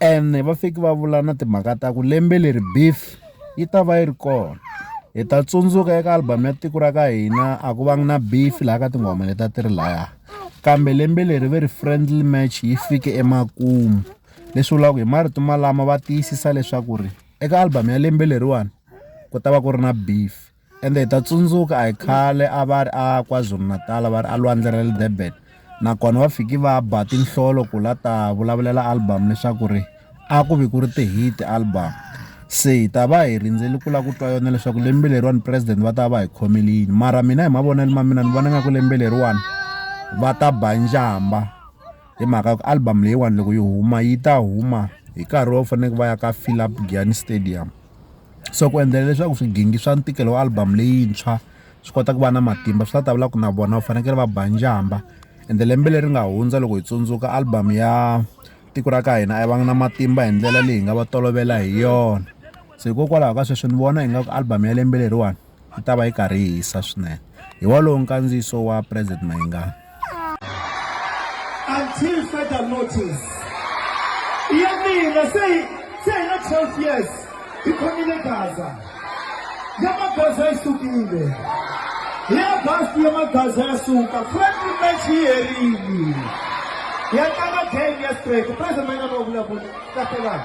ene va fiki va vula na timhaka ta ku lembe leri beef yi ta va yi ri kona hi ta tsundzuka eka album ya tiko ra ka hina a ku vangi na beef laha ka tinghoma leti a ti ri laya kambe lembe leri ve ri friendly match yi fike emakumu leswi vulaka hi marito malama va tiyisisa leswaku ri eka album ya lembe leriwani ku ta va ku ri na beef. ende hi ta tsundzuka a hi khale a va ri a kwazulu-natal va ri a lwandle ra le durban nakona va fiki va ba tinhlolo ku la ta vulavulela album leswaku ri a ku vi ku ri ti-hit album se hi ta va hi rindzeli ku lava ku twa yona leswaku lembe leriwani president va ta va hi khomele yini mara mina hi mavonelo ma mina ni vona nga ku lembe leriwani va ta ba njhamba hi mhaka ku album leyiwani loko yi huma yi ta huma hi nkarhi wo faneleke va ya ka philip giani stadium so ku endlela leswaku swigingi swa ntikelo wa album leyintshwa swi kota ku va na matimba swi ta ta vula ku na vona va fanekele va ba njhamba ende lembe leri nga hundza loko hi tsundzuka album ya tiko ra ka hina a va na matimba hi ndlela leyi hi nga va tolovela hi yona se hikokwalaho ka sweswi ni vona ingaku album ya lembe leriwani. yi ta va yi karhi yi hisa swinene hi wolowo nkandziyiso wa president mayingani until further notice ya mina se se na 12 years yi khomile gaza ya magaza yi sukile ya basi ya magaza ya suka friendly match yi herile ya tlanga game ya straight president mayingani wa vulavula kahlelana